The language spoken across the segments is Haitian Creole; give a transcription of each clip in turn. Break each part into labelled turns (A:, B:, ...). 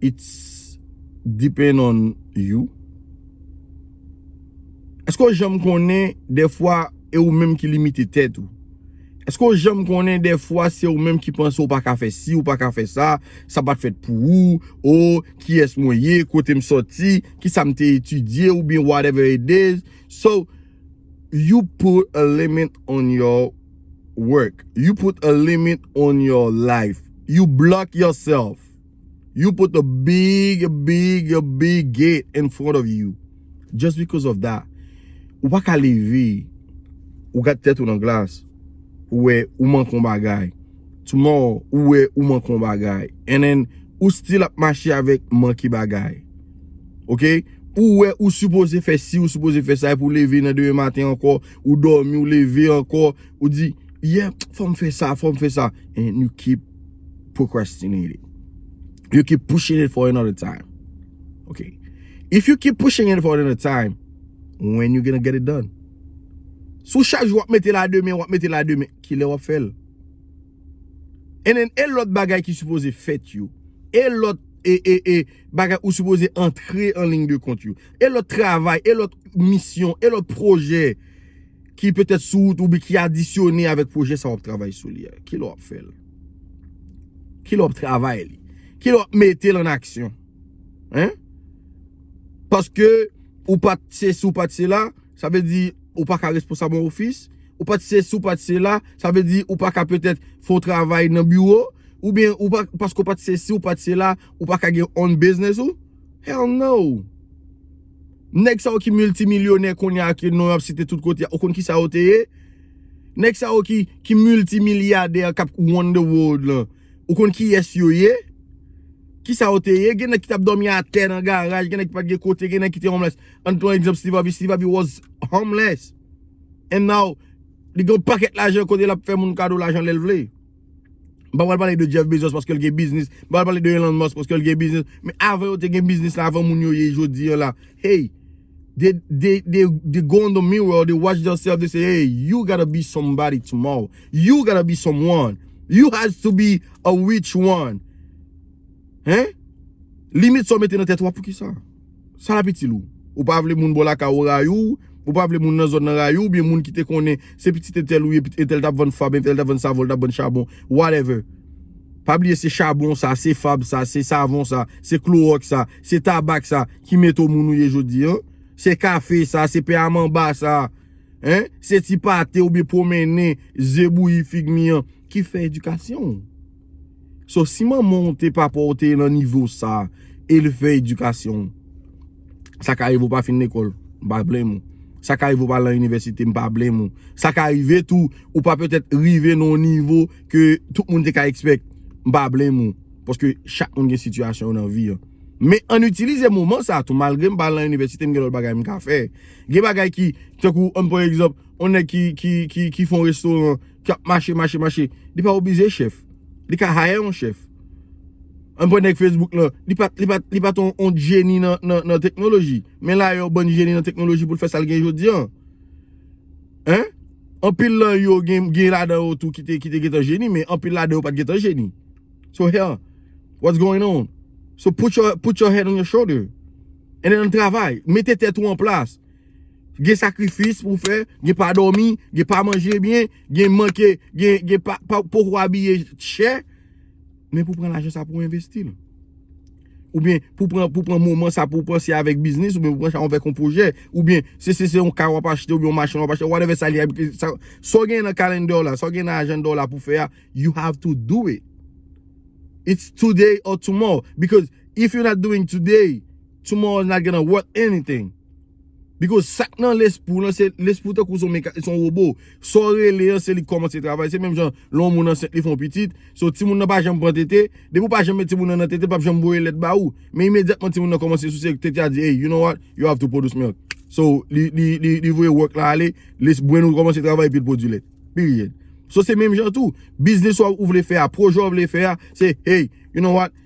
A: It's depend on you. Eske w janm konnen defwa e ou menm ki limite tèt ou? Eske w janm konnen defwa se ou menm ki panse ou pa ka fè si, ou pa ka fè sa, sa pa t fèt pou ou, oh, kiyès mwen ye, kote m soti, kisa m te etidye oubyen whatever it is. So, you put a limit on your work, you put a limit on your life, you block yourself. You put a big big big gate in front of you just because of that Ou pa ka leve Ou gad tèt ou nan glas Ou wè ou manke yon bagay Tomorrow ou wè ou manke yon bagay And then ou still ap mache avèk manke bagay Ok Ou wè ou sipoze fè si ou sipoze fè sa Epi ou leve nan demen maten ankò Ou dòmi ou leve ankò Ou di, yeah, fò m fè sa, fò m fè sa. And you keep procrastinating. You keep pushing it for another time. Ok. If you keep pushing it for another time, when you gonna get it done? Si w chak jou w ap mete l a demen, w ap mete l a demen, ki lè w ap fè l? And then, e lòt bagay ki sipoze fèt yo. E lòt, e, e, e, bagay ou sipoze antre an ligne de compte yo. E lòt travay, e lòt misyon, e lòt projè. ki petèt sou wout ou bi ki adisyone avèk pwojè sa w ap travay sou li a? Ki lè w ap fè l? Ki lè w ap travay li? Ki lè w ap mete l an aksyon? Paske ou pa t se si ou pa t se la, sa vle di ou pa ka responsab yon ofis, ou pa t se si ou pa t se la, sa vle di ou pa ka petèt fè yon travay nan biwo, oubyen paske ou pa t se si ou pa t se la, ou pa ka gen own bizniz ou? Hell no! Nèg sa yo ki milti milyonè kounye a ke non yo ap site tout kote a ou konn kisa yo te ye? Nèg sa yo ki milti milyadè k ap wonn de wold lan ou konn kiyès yo ye? Kisa yo te ye? Gen nèg ki t ap dòmi atè nan garaj, gen nèg ki pa t gen kote, gen nèg ki te homeless. Ann pran egzanp Steve Harvey, Steve Harvey was homeless and now li gen yon pakèt lajan kote l ap fè moun kado lajan lè l vle. M pa pral pale de Jeff Bezos paske l gen biznis, m pa pral pale de Elon Musk paske l gen biznis, men avan yo te gen biznis la, avan moun yo ye jodi an la, hey, they go on the mirror, they watch theirself, they say, hey, you gotta be somebody tomorrow, you gotta be someone, you has to be a rich one, hein, limit sa w mete nan tèt ou a poukisa? Sa l ap itil ou? Ou pa vle moun bò lakay ou rayi w, ou pa vle moun nan zòn nan rayi w oubyen moun ki te konnen se pitit entèl ou ye, pitit entèl t ap vann fab, entèl t ap vann savon, l t ap vann chabon, whatever. Pa bliye se chabon sa, se fab sa, se savon sa, se klowòks sa, se tabak sa ki mete w moun ou ye jodi an. Se kafe sa, se pen a manba sa, hein, se ti pate oubyen pwomennen, ze bouyi, fig mi an ki fè edikasyon w. So si manman w te papa w te nan nivo sa e l fè edikasyon w sa ka rive w pa fin lekòl m pa blame ou sa ka rive ou pa al nan inivèsite m pa blame ou sa ka rive tou ou pa petèt rive nan yon nivo ke tout moun te ka ekspèk m pa blame ou paske chak moun gen sitiyasyon yo nan vi an men ann itilize moman sa tou malgre m pa al nan inivèsite m gen lòt bagay m ka fè gen bagay ki tankou ann pran egzanp yon nèg ki fè yon restoran. ki ap mache mache mache li pa oblije chèf li ka hire yon chèf an pwen nèg Facebook lan li pat li pat li pat yon jeni nan nan nan teknoloji men la yon bann jeni nan teknoloji pou l fè sa l gen jodi an en anpil nan yo gen gen ladan yo tou ki te ki te gen tan jeni men anpil ladan yo pat gen tan jeni so he what's going on so put your put your head on your shoulder and then travay mete tèt ou an plas Gen sakrifis pou fè, gen pa dòmi, gen pa manje byen, gen manke, gen pa poko abiye chè, men pou pran lajan sa pou envestil. Ou byen pou pran moman sa pou panse avèk biznis, ou byen pou panse avèk yon pwojè, ou byen se se se yon ka wap achte, ou byen yon machin wap achte, whatever sa li a, sa w gen nan calendar w la, sa w gen nan agenda w la pou fè a, you have to do it. It's today or tomorrow, because if you not doing today, Tomorrow is not gonna worth anything Because sak nan lespri w lan se lespri w tankou son wobo Sa w rele an se li k kòmanse travay Se menm jan lè yon moun ansent li fè yon pitit So timoun nan pa janm pran tete Depi w pa janm met timoun nan nan tete l pap janm voye lèt ba ou Men imedyatman timoun nan kòmanse souse tete a di Hey you know what you have to produce milk So li voye work la ale Les brenn ou kòmanse travay epi l pwodui lèt Period So se menm jan tou Biznis ou vle fè a Pwojè ou vle fè a Se hey you know what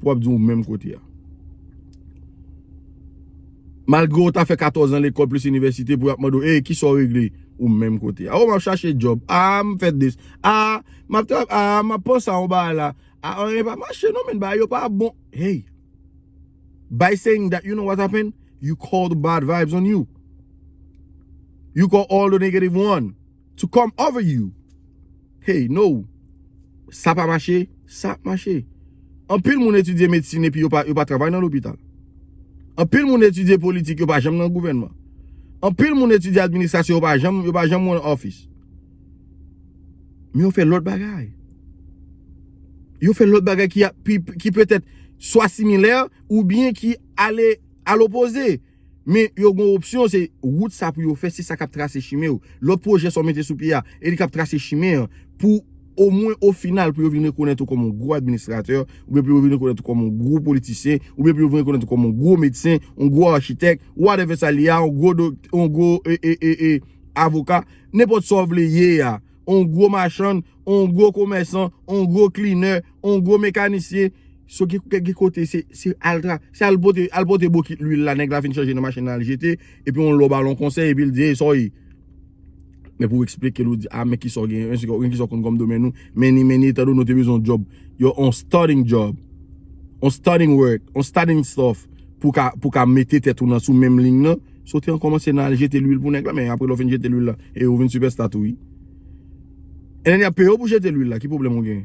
A: Pou wap di ou menm kote a. Malgre ou ta fè 14 an lekòl plis inivèsite pou yap mande ou ey kisa ou regle ou menm kote a. Ou map chache job a m fè dis a map ta a map panse a yon bagay la a anyen pa mache non men bagay yo pa bon ey. By saying that you know what happen you call the bad vibes on you. You call all the negative one. To come over you Hey no Sa pa mache Sa ap mache Anpil moun etidye medsin epi yo pa yo pa travay nan lopital Anpil moun etidye politik yo pa janm nan gouvènman Anpil moun etidye administrasyon yo pa janm yo pa janm run office Men yo fè lòt bagay Yo fè lòt bagay ki a pi ki petèt swa similè oubyen ki ale a lopoze Men yo gon opsyon se wout sa pou yo fè se sa kap trase chimen yo. Lòt pwojè sa w mete sou pye a e li kap trase chimen an pou omwen o final pou yo vin rekonèt ou kòm yon gwo administratè oubyen pou yo vin rekonèt ou kòm yon gwo politisyen oubyen pou yo vin rekonèt ou kòm yon gwo medsen, yon gwo achitèk, whatever sa li a, yon gwo doktè, yon gwo avoka, nenpòt sa w vle ye a. on gwo machann, on gwo komèsan, on gwo klinè, on gwo mekanisyen, so ki ki kote se se al tra se al pote al pote bokit lwil la nèg la fin chanje nan machin nan al jete epi on lò bal on konsèy epi l di ey sa w ye men pou w eksplike l ou di a men ki sa w gen men ki sa w konn kòm domèn ou many many etan donnen w te bezwen yon djòb yo on starting djòb on starting work on starting stuff pou w ka pou w ka mete tèt ou nan sou menm ling nan Sote an komanse nan al jete lwil pou nèg la men apre lè w fin jete lwil la e ou vin sipèsta tou wi. Enene yap peye w pou jete lwil la ki pwoblèm ou gen.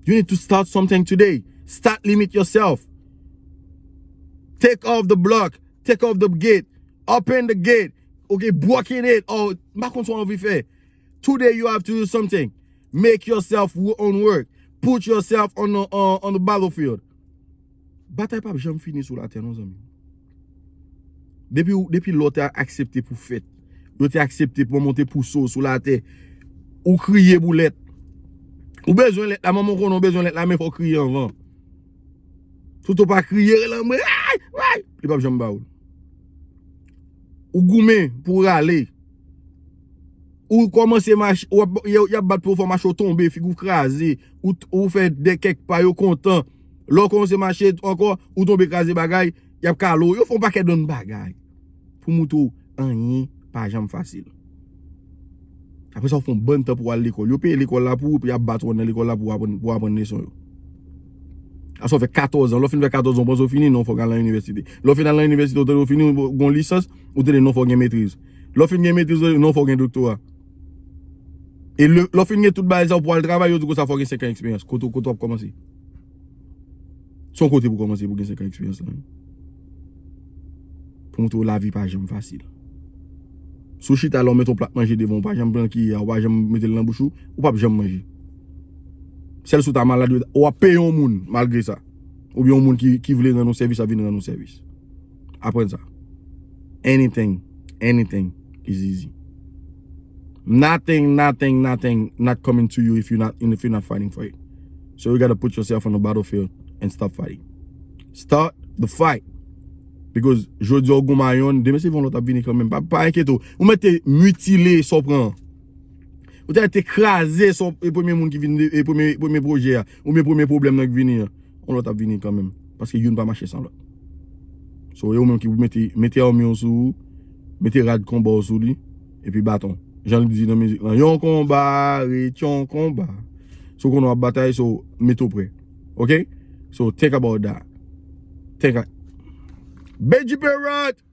A: You need to start something today. Start limit yourself. Take off the block. Take off the gate. Open the gate. Ok, broken it. Oh, mpa konn sa w anvi fè. Today you have to do something. Make yourself own work. Put yourself on the battlefield. Batay pap janm fini sou latè non zanmim. Depi lè w te aksepte pou fèt, lè w te aksepte pou manman w te pouse w sou latè, ou kriye pou lèt. Ou bezwen lèt la, manman w konnen w bezwen lèt la men fò w kriye anvan. Tout ou pa kriye rele anmwe, aay, aay, li pap janm ba ou l. Ou goumen pou w rale, ou kòmanse mache, y ap bat pou yo fè w mache, ou tonbe, figi w kraze, ou fè de kèk pa yo kontan. Lè w kòmanse mache ankò, ou tonbe kraze bagay, y ap kale w. Yo fè yon pakèt bann bagay pou montre w anyen pa janm fasil. Apre sa, ou fè yon bann tan pou w al lekòl. Yo peye lekòl la pou ou epi y ap bat ou anndan lekòl la pou w aprann leson yo. Apre sa, ou fè katòzan. Lè w fin fè katòzan, ou panse ou fini? Non, fò w ka al nan inivèsite. Lè w fin al nan inivèsite, ou tande ou fini, ou gen yon lisans, ou tande non fò w gen metriz. Lè w fin gen metriz, non fò w gen doktora. E lè w fin gen tout bagay sa yo pou w al travay, yo di w konsa fò w gen senkan eksperyans. Kote w ap kòmanse? Se yon kote pou w kòmanse pou w gen senkan eksperyans lan. Pou montre w lavi pa janm fasil. Si w chita la ou mete yon plat manje devan w, ou pa janm pran kiyè a, ou pa janm mete l nan bouch ou, ou pap janm manje. Sèl si w ta malad, ou ap peye yon moun malgre sa. Oubyen yon moun ki vle rann ou sèvis ap vin rann ou sèvis. aprann sa. Anything, anything is easy. Nothing, nothing, nothing not coming to you if you're not if you're not fighting for it. So you gotta put yourself on the battlefield and stop fighting. Start the fight. Because jodi a ou goumen a yonn, demen se yon lòt ap vini kanmenm. Pa enkete ou. Ou mèt te mutile sa w pran an. Ou ta te kraze son e premye moun ki vini e premye pwojè a. Ou mwen premye pwoblèm nan ki vini a. On lòt ap vini kanmenm. Paske youn pa mache san lòt. So e ou menm ki pou mete mete an miyon sou ou. Mete rad konba ou sou li. E pi baton. Jan li di nan mizik lan. Yon konba re tyon konba. So kon nou ap batay so mete ou pre. Ok? So think about that. Think a Benji Perot!